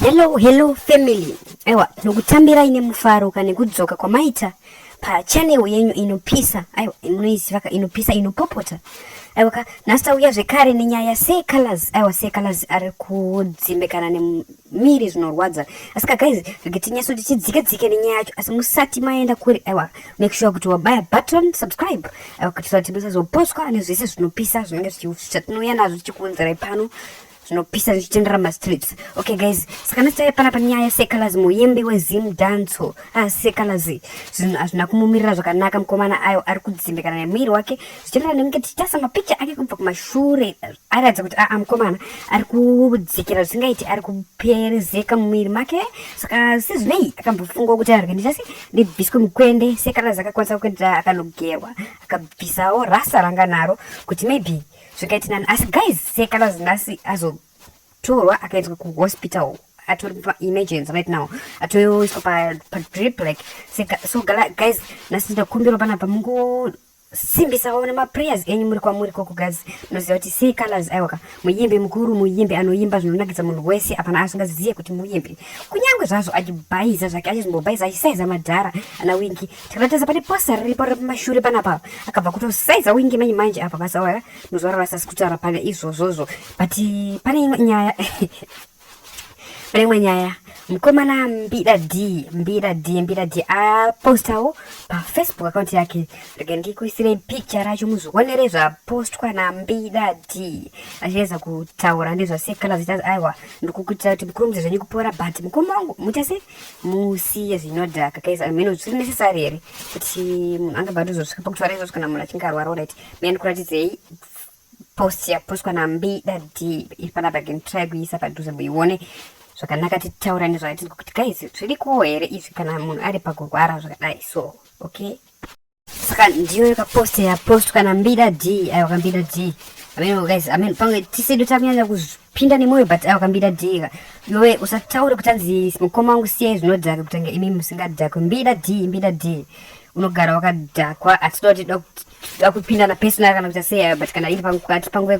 Hello, hello family. Aiwa, nokutambirai nemufaro kana nekudzoka kwamaita pachanel yenyu inopisa. Aiwa, munoiziva ka inopisa inopopota. Aiwa ka nhasi tauya zvekare nenyaya secolors. Aiwa secolors ari kudzimbikana ne miri zvinorwadza asika guys regetinyaso tichidzike dzike nenyaya yacho asi musati maenda kuri aiwa make sure kuti wabaya button subscribe aiwa kuitira kuti musazoposwa nezvese zvinopisa zvinenge zvatinouya nazvo tichikuunzirai pano zvinopisa zvichitendera mastreets okay guys saka nasitai panapa nyaya sekalazi muyembi wezim danco ah, sekalazi zvinhu hazvina kumumirira zvakanaka mukomana ayo ari kudzimbikana nemwiri wake zvichitendera nekunge tichitasa mapicha ake kubva kumashure aratidza kuti aa mukomana ari kudzikira zvisingaiti ari kuperezeka mumwiri make saka sezvinei akambofungawo kuti arege ndichasi ndibviswe mukwende sekana zakakwanisa kuendera akanogerwa akabvisawo rasa ranga naro kuti maybe zvakaiti nani asi guys sekana zinasi azotorwa akaendeswa kuhospital atori paaemergency right now atoiswa padrip like so guys nasi ndakumbirwa panapa mungo simbisawo nemaprayers enyu muri kwamuri koko guys munoziva kuti see colors aiwaka muyimbi mukuru muyimbi anoyimba zvinonakidza munhu wese apana asingazizive kuti muyimbi kunyange zvazvo achibhaiza zvake achizombobhaiza achisaiza madhara ana wingi tikatateza pane posta riripo remashure panapa akabva kutosaiza wingi manye manje apa basa waya muzuva rarasasi kutaura pane izvozvozvo but pane imwe nyaya pane imwe nyaya mukomana mbira d mbira d mbira d apostawo pafacebook account yake rege ndikuisirei picture racho muzvionere zvapostwa nambira d achiedza kutaura nezvasekala zita aiwa ndikukuitira kuti mukurumidze zvenyu kupora but mukoma wangu mutese musiye zvinodhaka kais ameno zviri necessary here kuti munhu angabva atozosvika pakutaura izvozvo kana munhu achinge arwara orit mene ndikuratidzei post yapostwa nambi dadhi iri panapa again try kuiisa padhuze muione zvakanaka titaura nezvayatinzwa kuti guys zvirikowo here izvi kana munhu ari pakurwara zvakadai so okay saka ndiyo yakapost yapostwa nambida d aiwa kambida d ameno guys ameno pamwe tisedu takunyanya pinda nemoyo but awa kambida dhiga yowe usataure kutanzi mukoma wangu siyai zvinodhaka kutanga imi musingadhakwe mbida dhii mbida dhii unogara wakadhakwa hatidoti dakupindana personal kana kuita sei but kana iri pakati panguva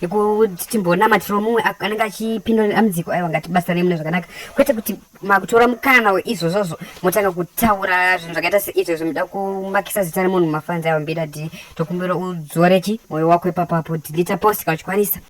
yekuti timbonamatiro mumwe anenge achipindura dambudziko aiwa ngatibatsirane mune zvakanaka kwete kuti makutora mukana izvozvozvo motanga kutaura zvinhu zvakaita seizvo zvomuda kumakisa zita remunhu mafanzi aiwa mbida dhii tokumbira udzore chi mwoyo wako ipapapo dhilita post kana uchikwanisa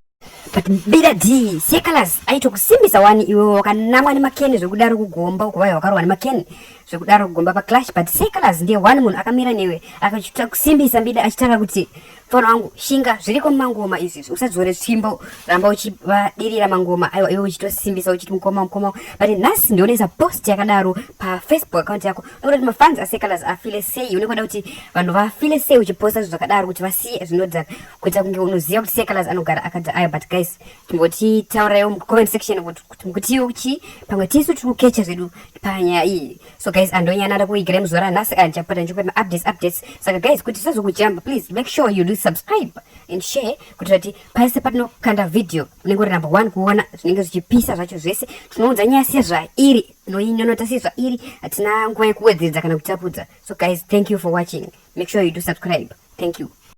but bida d secalas aitokusimbisa wani iwe wakanamwa nemakeni zvekudaro kugomba uko vaya wakarohwa nemakeni zvekudaro kugomba paclash but secalas ndiye one munhu akamira newe akaita kusimbisa bida achitaura kuti fona wangu shinga zviriko mumangoma izvizvi usadzore tsvimbo ramba uchivadirira mangoma aiwa iwe uchitosimbisa uchiti mukoma mukoma but nhasi ndionesa post yakadaro pafacebook account yako ndokuda kuti mafans asecalas afile sei unekuda kuti vanhu vafile sei uchiposta zvinhu zvakadaro kuti vasiye zvinodhaka kuita kunge unoziva kuti secalas anogara akati ayo but guys tingoti tauraiwo mucomment section kuti mukutiwo kuchii pamwe tisu tiri kukecha zvedu panyaya iyi so guys andonyana ada kuigara muzuva ranhasi andichapota ndichikupa maupdates updates saka guys kuti tisazokujamba please make sure you do subscribe and share kuti kuti pase patinokanda video unenge uri number one kuona zvinenge zvichipisa zvacho zvese tinounza nyaya sezvairi noinonota sezvairi hatina nguva yekuwedzeredza kana kutapudza so guys thank you for watching make sure you do subscribe thank you